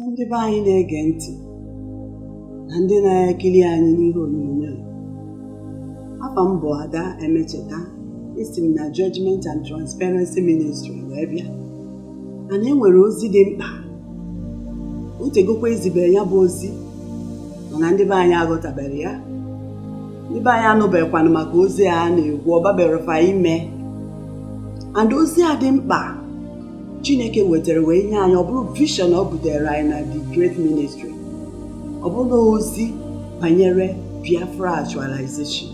ndị be anyị na-ege ntị na ndị na-ekiri anyị n'ihe onyonyo afa m bụ ada emecheta esi m na Judgment and Transparency Ministry wee bịa and e nwere ozi dị mkpa o tegokwa e zibere ya bụ ozi mana ndị be anyị aghọtabere ya ndị be anyị anụbekwanụ maka ozi a na-ekwu ọ babere fa ime and ozi a dị mkpa chineke wetara wee nye anyị ọ bụrụ vision o butere anyị na the great ministry ọ bụrụ ozi banyere biafra actualization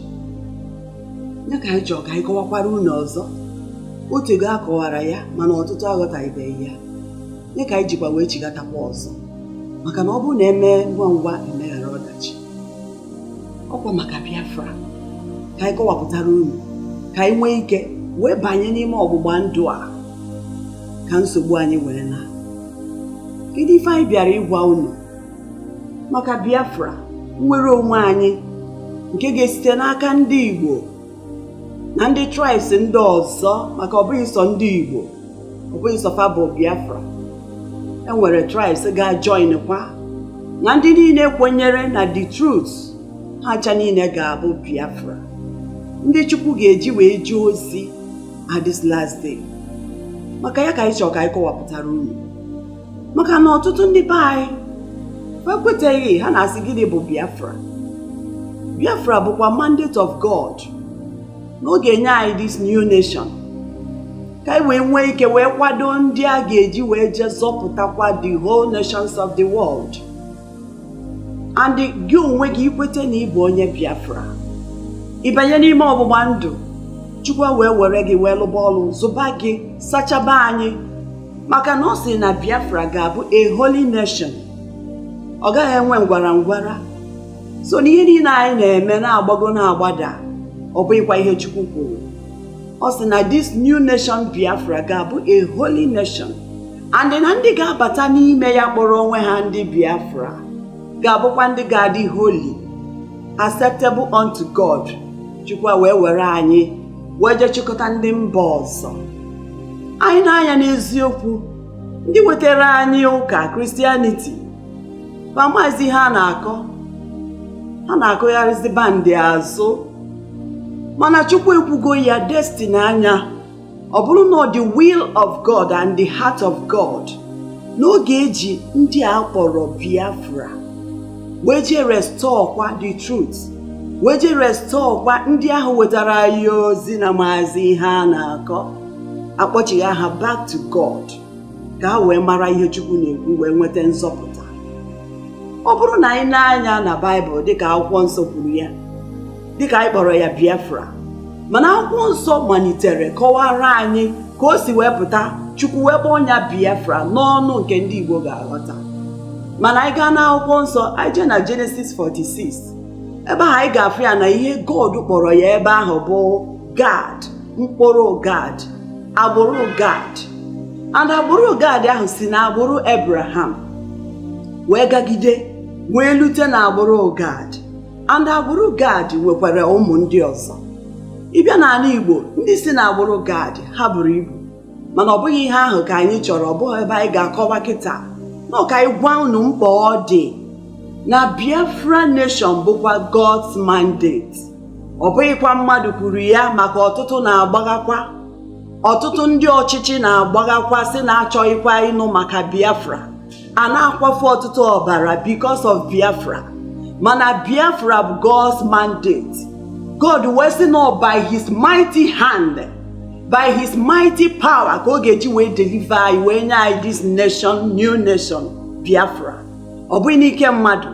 ya ka anyị chọrọ ka anyị kọwakwara unu ọzọ o tego a kọwara ya mana ọtụtụ aghọtaghịbeghị ya ya ka anyị jikwa wee chigatakwa ọzọ maka na ọ bụrụ na e mee ngwa ngwa e meghara ọdachi ọ kwa maka Biafra ka anyị kọwapụtara unu ka anyị nwee ike wee banye n'ime ọgbụgba ndụ a ka nsogbu anyị wee na kedu ife anyị bịara ịgwa unu maka Biafra nnwere onwe anyị nke ga-esite n'aka ndị Igbo na ndị tribes ndị ọzọ maka ọ bụghị sọ ndị Igbo ọ bụghị sọ fa bụ Biafra e nwere tribes ga-join kwa na ndị niile kwenyere na the truth ha ncha niile ga-abụ Biafra ndị Chukwu ga-eji wee jee ozi at this last day maka ya ka anyị chọrọ ka anyị kọwapụtara unu maka na ọtụtụ ndị be anyị ekweteghị ha na-asị gịnị bụ Biafra Biafra bụkwa mandate of God na ọ ga-enye anyị this new nation ka anyị wee nwee ike wee kwado ndị a ga-eji wee jee zọpụtakwa the whole nations of the world and gị onwe gị i kwete na ị bụ onye Biafra ị banye n'ime ọgbụgba ndụ Chukwu wee were gị wee lụba ọlụ zụba gị sachaba anyị maka na ọ sị na biafra ga-abụ a holy nation ọ gaghị enwe ngwara ngwara so na ihe niile anyị na-eme na-agbago na-agbada ọ bụghịkwa ihe chukwu kwuru ọ sị na this new nation biafra ga-abụ a holy nation and na ndị ga-abata n'ime ya kpọrọ onwe ha ndị biafra ga-abụkwa ndị ga-adị holy acceptable unto god chukwu wee were anyị wee jee chịkọta ndị mba ọzọ anyị na-anya n'eziokwu ndị wetara anyị ụka Christianity ma maazị ihe a na-akọ ha na-akụgharịzi band azụ mana chukwu ekwugo ya destiny anyị ọ bụrụ na ọ the will of god and the heart of god na ọ ga-eji ndị a kpọrọ biafra wee jee restore kwa the truth wee jee restore kwa ndị ahụ wetara anyị ozi na-amazị ihe a na-akọ akpọchigha ha back to God ka ha wee mara ihe Chukwu na-ekwu wee nweta nzọpụta ọ bụrụ na anyị nee anya na Baịbụl dịka akwụkwọ nsọ kwuru ya dịka anyị kpọrọ ya Biafra mana akwụkwọ nsọ malitere kọwara anyị ka o si wee pụta Chukwu wee kpọọ ya Biafra n'ọnụ nke ndị Igbo ga-aghọta mana anyị gaa n'akwụkwọ nsọ anyị jee na Genesis 46 ebe ahụ anyị ga-afụ ya na ihe God kpọrọ ya ebe ahụ bụ Gad mkpụrụ Gad agbụrụ Gad and agbụrụ Gad ahụ si na agbụrụ Abraham wee gagide wee lute na agbụrụ Gad and agbụrụ gad nwekwara ụmụ ndị ọzọ ị bịa n'ala igbo ndị si na agbụrụ gad ha buru ibu mana ọ bụghị ihe ahụ ka anyị chọrọ ọ bụghị ebe anyị ga-akọwa kịta na ka anyị gwa unu mkpa ọ dị na biafra nation bụkwa god's mandate ọ bụghịkwa mmadụ kwuru ya maka ọtụtụ na-agbaghakwa ọtụtụ ndị ọchịchị na-agbaghakwa sị na achọghịkwa ịnụ maka biafra a na-akwafu ọtụtụ ọbara because of Biafra mana Biafra bụ God's mandate God wee sị na by his mighty hand by his mighty power ka ọ ga-eji wee deliver anyị wee nye anyị this nation new nation Biafra ọ bụghị n'ike mmadụ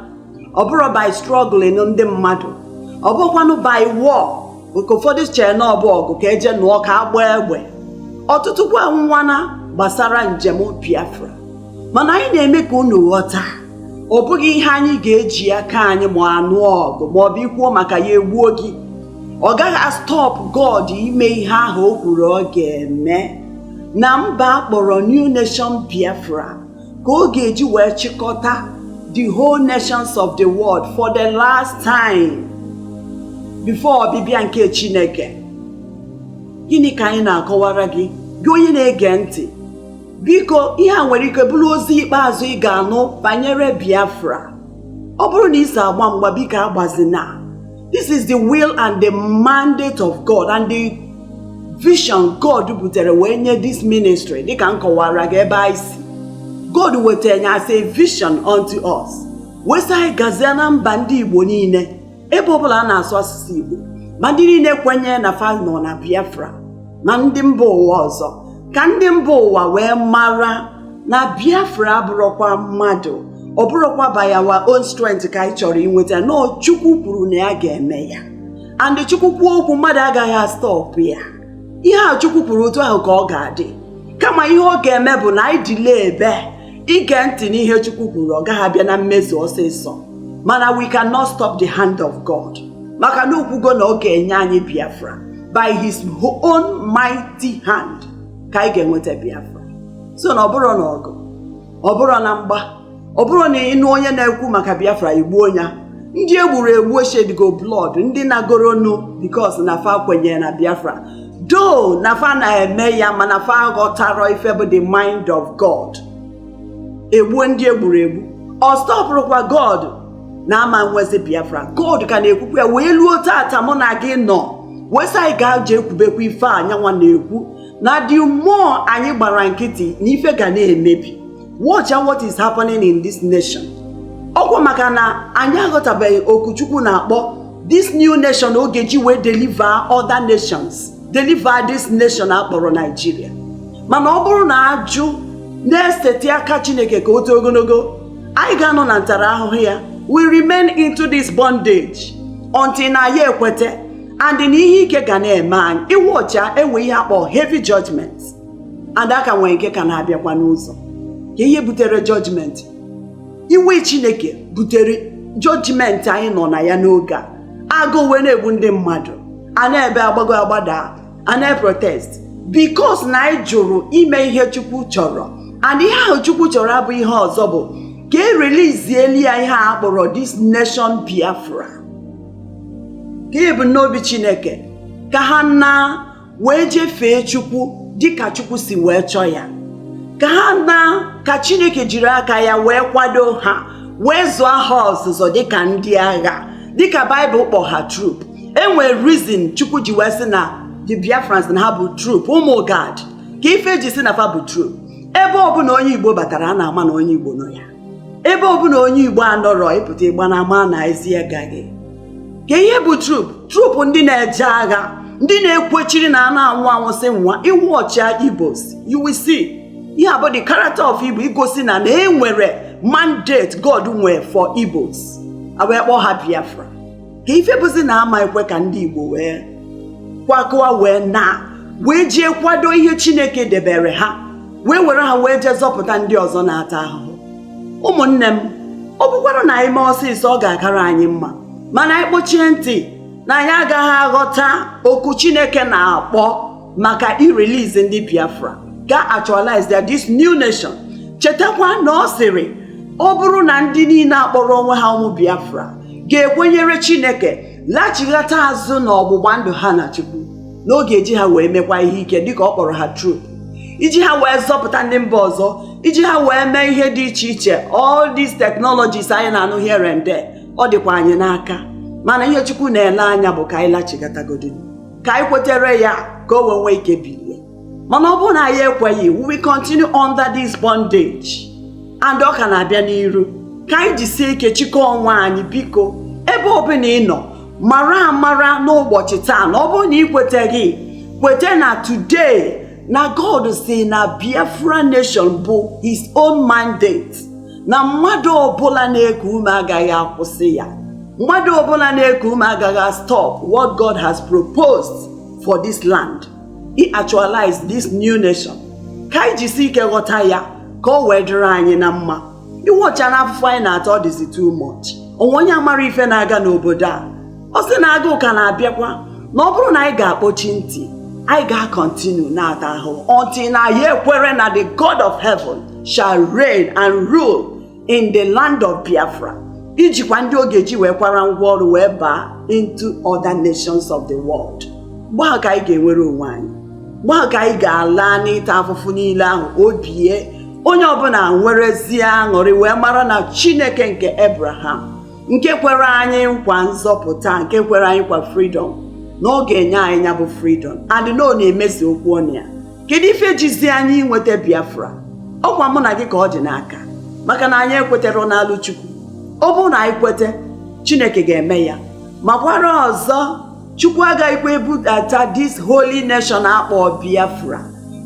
ọ bụrọ by struggling ndị mmadụ ọ bụkwanụ by war nke ụfọdụ chee na ọ bụ ọgụ ka e jee nụọ ka a gbaa egbe ọtụtụ kwa anwụọna gbasara njem Biafra mana anyị na-eme ka unu ghọta ọ bụghị ihe anyị ga-eji aka anyị ma a nụọ ọgụ ma ọ bụ i kwuo maka ya e gbuo gị ọ gaghị a-stop God ime ihe ahụ o kwuru ọ ga-eme na mba a kpọrọ New Nation Biafra ka ọ ga-eji wee chịkọta the whole nations of the world for the last time before ọbịbịa nke Chineke gịnị ka anyị na-akọwara gị gị onye na-ege ntị biko ihe a nwere ike bụrụ ozi ikpeazụ ị ga-anụ banyere Biafra ọ bụrụ na ị so agba mgba biko agbazina This is the will and the mandate of God and the vision God butere wee nye this ministry dịka m kọwara gị ebe anyị si God wetara ya as a vision unto us wee sị anyị gazie na mba ndị Igbo niile ebe ọbụla a na-asụ asụsụ Igbo ma ndị niile kwenye na fa nọ na Biafra na ndị mba ụwa ọzọ ka ndị mba ụwa wee mara na biafra abụrọkwa mmadụ ọ bụrọkwa by our own strength ka anyị chọrọ inweta na ọ chukwu kwuru na ya ga-eme ya and chukwu kwuo okwu mmadụ agaghị astọpụ ya ihe a chukwu kwuru otu ahụ ka ọ ga-adị kama ihe ọ ga-eme bụ na anyị delay ebe ige ntị n'ihe chukwu kwuru ọ gaghị abịa na mmezu ọsịsọ mana we cannot stop the hand of God maka na o kwugo na ọ ga-enye anyị Biafra by his own mighty hand ka anyị ga-enweta Biafra so na ọ bụrọ na ọgụ ọ bụrọ na mgba ọ bụrụ na ị nụ onye na-ekwu maka Biafra i gbuo ya ndị egburu egbu eshedigo blood ndị nagoronu because na fa kwenyere na Biafra though na fa na-eme ya mana fa aghọtarọ ife bụ the mind of God egbuo ndị egburu egbu ọ stọpụrọkwa God na ama nwezi biafra god ka na-ekwukwa ya wee luo tata mụ na gị nọ wee sị anyị gaa jee kwubekwa ife a nya nwa na-ekwu na the more anyị gbara nkịtị na ife ga na-emebi watch out what is happening in this nation ọkwa maka na anyị aghọtabeghị oku chukwu na-akpọ this new nation ọ ga-eji wee deliver other nations deliver this nation akpọrọ Nigeria mana ọ bụrụ na ajụ na-esetị aka chineke ka o too ogologo anyị ga-anọ na ntarahụhụ ya we remain into this bondage until anyị ekwete and na ihe ike ga na-eme anyị ị wọchịa enwe ihe a kpọ heavy judgment and a ka nwere nke ka na-abịakwa n'ụzọ ka ihe butere judgment iwe chineke butere judgment anyị nọ na ya n'oge a agụụ wee na-egbu ndị mmadụ a na-ebe agbago agbada a na-eprotest because na anyị jụrụ ime ihe Chukwu chọrọ and ihe ahụ Chukwu chọrọ abụ ihe ọzọ bụ ka e relizieli ya ihe a kpọrọ this nation Biafra ka ebumnobi Chineke ka ha na wee jefee Chukwu dịka Chukwu si wee chọọ ya ka ha na ka Chineke jiri aka ya wee kwado ha wee zụọ ha ọzụzụ dịka ndị agha dịka Baịbụl kpọ ha troop enwere reason chukwu ji wee sị na the biafrans na ha bụ troop ụmụ gad ka ife e ji sị na fa bụ troop ebe ọbụla onye igbo batara a na-ama na onye igbo nọ ya ebe ọbụla onye igbo anọrọ ịpụta ịgba na ama na ezi gaghị ka ihe bụ troop troop ndị na-eje agha ndị na-ekwechiri na a na-anwụ anwụ sị nwa ị wọchịa ibos you will see ihe a bụ the character of igbo igosi na na enwere mandate god nwere for ibos a wee kpọọ ha biafra ka ife bụzi na a ma-ekwe ka ndị Igbo wee kwakọwa wee na wee jee kwado ihe Chineke debere ha wee were ha wee jee zọpụta ndị ọzọ na-ata ahụhụ ụmụnne m ọ bụkwara na anyị mee ọsịsọ ọ ga-akara anyị mma mana anyị kpọchie ntị na anyị agaghị aghọta oku Chineke na-akpọ maka irelease ndị biafra ga-actualize their this new nation chetakwa na ọ sịrị ọ bụrụ na ndị niile akpọrọ onwe ha ụmụ biafra ga-ekwenyere chineke lachighata azụ na ọgbụgba ndụ ha na chukwu na ọ ga-eji ha wee mekwa ihe ike dịka ọ kpọrọ ha troop iji ha wee zọpụta ndị mba ọzọ iji ha wee mee ihe dị iche iche all these technologies anyị na-anụ here and there ọ dịkwa anyị n'aka mana ihe chukwu na-ele anya bụ ka anyị lachighatagodị ka anyị kwetere ya ka o wee nwee ike bilie mana ọ bụrụ na anyị ekweghị we will continue under this bondage and ọ ka na-abịa n'iru ka anyị jisie ike chịkọọ onwe anyị biko ebe ọbụla ị nọ mara amara n'ụbọchị taa na ọ bụrụ na ị kweteghị kwete na today na God sị na Biafra nation bụ his own mandate na mmadụ ọbụla na-eku ume agaghị akwụsị ya mmadụ ọbụla na-eku ume agaghị stop what God has proposed for this land iactualize this new nation ka anyị jisi ike ghọta ya ka o wee dịrị anyị na mma iwọcha na afụfụ anyị na-ata ọ dịzi too much onwe onye amarọ ife na-aga n'obodo a ọ sị na agụụ ka na-abịakwa na ọ bụrụ na anyị ga-akpọchi ntị anyị ga-continue na-ata ahụhụ until na anyị ekwere na the God of heaven shall reign and rule in the land of Biafra ijikwa ndị ọ ga-eji wee kwara ngwa ọrụ wee baa into other nations of the world mgbe ahụ ka anyị ga-enwere onwe anyị mgbe ahụ ka anyị ga-ala n'ịta afụfụ niile ahụ obi onye ọbụla enwerezie aṅụrị wee mara na Chineke nke Abraham nke kwere anyị nkwa nzọpụta nke kwere anyị nkwa freedom na ọ ga-enye anyị ya bụ freedom and na ọ na-emezu okwu ọnụ ya kedu ife jizi anyị inweta biafra ọkwa mụ na gị ka ọ dị n'aka maka na anyị ekwetarọ nalụ chukwu ọ bụrụ na anyị kwete chineke ga-eme ya makwara ọzọ chukwu agaghịkwa ebudata this holy nation akpọ biafra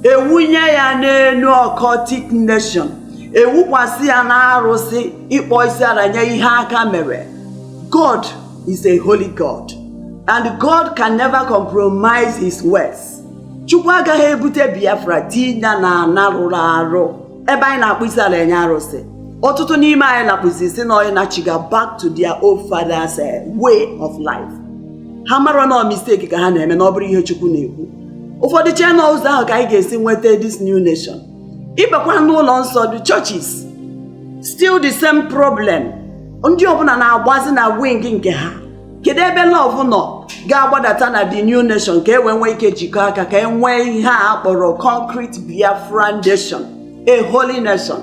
ewunye ya n'elu occultic nation ewukwasị ya na arụsị ịkpọ isi ala nye ihe aka mere god is a holy god and god can never compromise his words chukwu agaghị ebute biafra tinye na ana rụrụ arụ ebe anyị na-akpọ isi ala enye arụsị ọtụtụ n'ime anyị na-akpọzi sị na anyị nachiga back to their old father's eh, way of life ha amarọ na ọ mistake ka ha na-eme na ọ bụrọ ihe chukwu na-ekwu ụfọdụ chee na ụzọ ahụ ka anyị ga-esi nweta this new nation ịbakwa n'ụlọ nsọ the churches still the same problem ndị ọbụla na-agbazi na wing nke ha kedu ebe love nọ ga-agbadata na the new nation ka e wee nwee ike jikọ aka ka e nwee ihe a kpọrọ concrete biafra nation a holy nation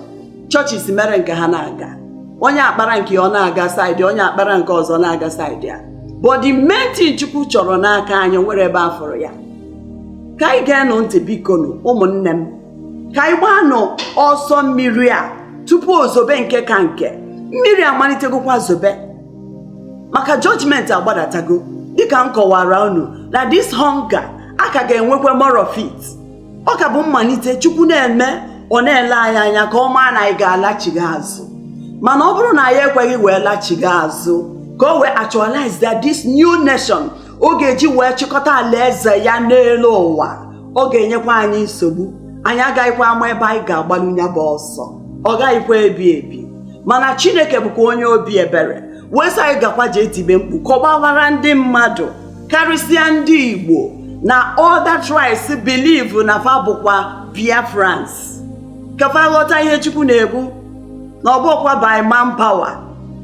churches mere nke ha na-aga onye a kpara nke ọ na-aga side onye a kpara nke ọzọ na-aga side a but the main thing chukwu chọrọ n'aka anyị nwere ebe afọrọ ya ka anyị geenụ ntị bikonu ụmụnne m ka anyị gbaanụ ọsọ mmiri a tupu o zobe nke ka nke mmiri amalitegokwa zobe maka judgment agbadatago dịka m kọwara unu na this hunger a ka ga-enwekwa more of it ọ ka bụ mmalite chukwu na-eme ọ na-ele anyị anya ka ọ maa na anyị ga-alachigha azụ mana ọ bụrụ na anyị ekweghị wee lachigha azụ ka o wee actualize that this new nation ọ ga-eji wee chịkọta alaeze ya n'elu ụwa ọ ga-enyekwa anyị nsogbu anyị agaghịkwa ama ebe anyị ga-agbalụ ya bụ ọsọ ọ gaghịkwa ebi ebi mana chineke bụkwa onye obi ebere wee sị anyị gakwa jee tibe mkpu ka ọ gbaghara ndị mmadụ karịsịa ndị igbo na other tribes believe na fa bụkwa biafrans ka fa ghọta ihe chukwu na-ekwu na ọ bụghịkwa by manpower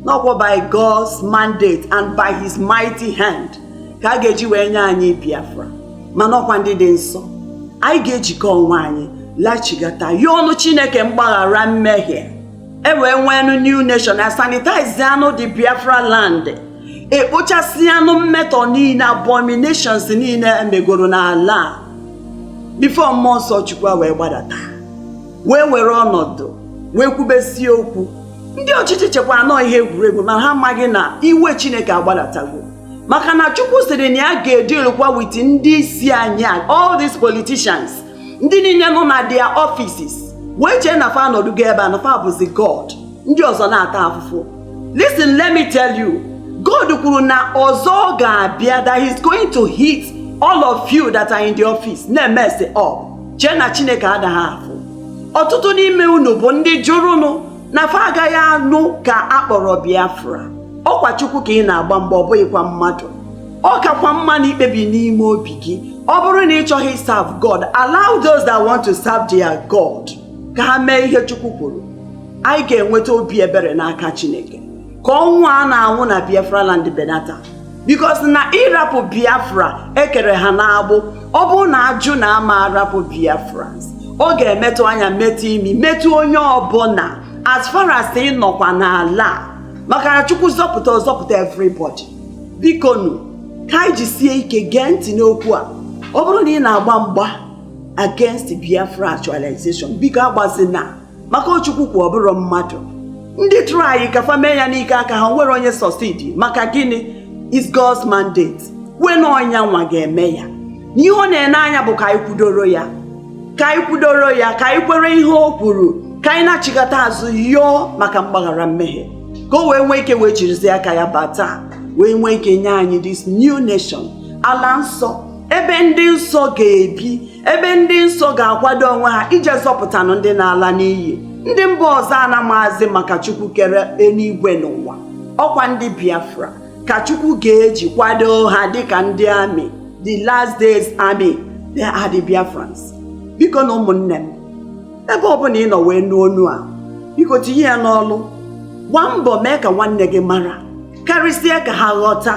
na ọkwa by God's mandate and by his mighty hand ka a ga-eji wee nye anyị Biafra mana ọkwa ndị dị nsọ anyị ga-ejikọ onwe anyị lachigata ya ọnụ chineke mgbaghara mmehie e wee nweenụ new nation a sanitize anụ the biafra land e kpochasịanụ mmetọ niile abominations niile e megoro n'ala a before mmụọ nsọ chukwu ewee gbadata wee were ọnọdụ wee kwubesie okwu ndị ọchịchị chekwa na ọ ihe egwuregwu ma ha amaghị na iwe chineke agbadatago maka na chukwu sịrị na ya ga-edilụkwa with ndị isi anyị a all these politicians ndị niile nọ na their offices wee chee na fa anọdụgo ebe a na fa bụzi god ndị ọzọ na-ata afụfụ listen let me tell you god kwuru na ọzọ ọ ga-abịa that he's going to hit all of you that are in the office na-emess up chee na chineke adaghị afụ ọtụtụ n'ime unu bụ ndị jụrụnụ na fa agaghị anụ ka a kpọrọ biafra ọkwa chukwu ka ị na-agba mgba ọ bụghịkwa mmadụ ọ kakwa mma na i kpebie n'ime obi gị ọ bụrụ na ị chọghị serve god allow those that want to serve their god ka ha mee ihe chukwu kwuru anyị ga-enweta obi ebere n'aka chineke ka ọnwụ a na-anwụ na biafra land benata because na ị rapụ biafra e kere ha n'agbụ ọ bụrụ na a jụ na a ma arapụ biafrans ọ ga-emetụ anya metụ imi metụ onye ọbụla as far as ị nọkwa n'ala a maka na chukwu zọpụta ọ zọpụta everybody bikonu ka anyị jisie ike gee ntị n'okwu a ọ bụrụ na ị na-agba mgba against biafra actualization biko agbazina maka ọ Chukwu kwa ọ bụrọ mmadụ ndị try ka fa mee ya n'ike aka ha o nwere onye succeed maka gịnị is God's mandate wena ọ nya nwa ga-eme ya na ihe ọ na-ene anya bụ ka anyị kwudoro ya ka anyị kwudoro ya ka anyị kwere ihe o kwuru ka anyị nachighata azụ yọọ maka mgbaghara mmehie ka o wee nwee ike wee jirizie aka ya bata wee nwee ike nye anyị this new nation ala nsọ ebe ndị nsọ ga-ebi ebe ndị nsọ ga-akwado onwe ha ije zọpụtanụ ndị na-ala n'iyi ndị mba ọzọ a na-amazị maka chukwu kere eluigwe na ụwa ọ kwa ndị biafra ka chukwu ga-eji kwado ha dịka ndị army the last days army they are the biafrans biko na ụmụnne m ebe ọbụla ị nọ wee nụ onu a biko tinye ya n'ọlụ gbaa mbọ mee ka nwanne gị mara karịsịa ka ha ghọta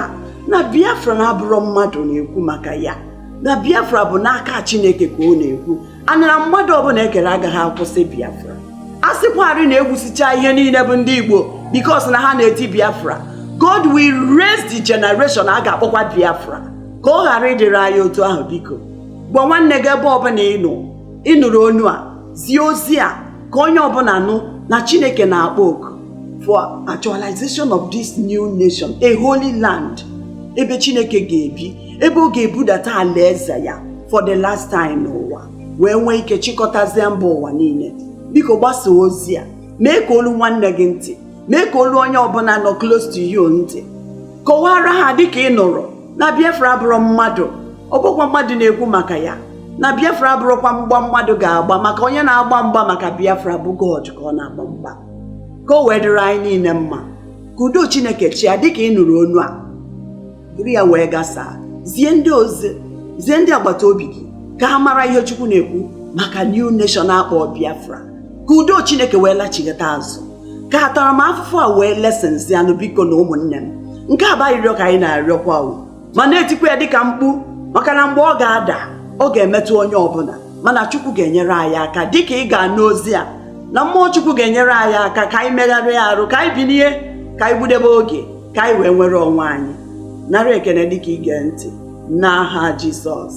na biafra na abụrọ mmadụ na-ekwu maka ya na biafra bụ n'aka chineke ka ọ na-ekwu anara mmadụ ọbụla e kere agaghị akwụsị biafra a sịkwarị na e gbusicha ihe niile bụ ndị igbo because na ha na-eti biafra god will raise the generation a ga-akpọkwa biafra ka ọ ghara ịdịrị anyị otu ahụ biko gwa nwanne gị ebe ọbụla ị nọ ị nụrụ onu a zie ozi a ka onye ọbụla nụ na chineke na-akpọ oku for actualization of this new nation a holy land ebe chineke ga-ebi ebe ọ ga-ebudata alaeze ya for the last time n'ụwa wee nwee ike chịkọtazie mba ụwa niile biko gbasa ozi a mee ka o luo nwanne gị ntị mee ka o luo onye ọbụla nọ close to you ntị kọwara ha dịka ị nụrụ na Biafra abụrọ mmadụ ọ bụrọkwa mmadụ na-ekwu maka ya na Biafra abụrọkwa mgba mmadụ ga-agba maka onye na-agba mgba maka Biafra bụ God ka ọ na-agba mgba ka o wee dịrị anyị niile mma ka udo Chineke chịa dịka ị nụrụ onu a buru ya wee gbasaa zie ndị ozi zie ndị agbata obi gị ka ha mara ihe chukwu na-ekwu maka new nation a kpọ biafra ka udo chineke wee lachighata azụ ka ataramahụhụ a wee lessensịa nụ biko na ụmụnne m nke a bụ arịrịọ ka anyị na-arịọkwa o ma na-etikwa ya dịka mkpu maka na mgbe ọ ga-ada ọ ga-emetụ onye ọbụla mana chukwu ga-enyere anyị aka dịka ị ga-anụ ozi a na mmụọ chukwu ga-enyere anyị aka ka anyị megharịa arụ ka anyị binie ka anyị gbudebe oge ka anyị wee nwere onwe anyị nara ekene dịka i ge ntị n'aha Jizọs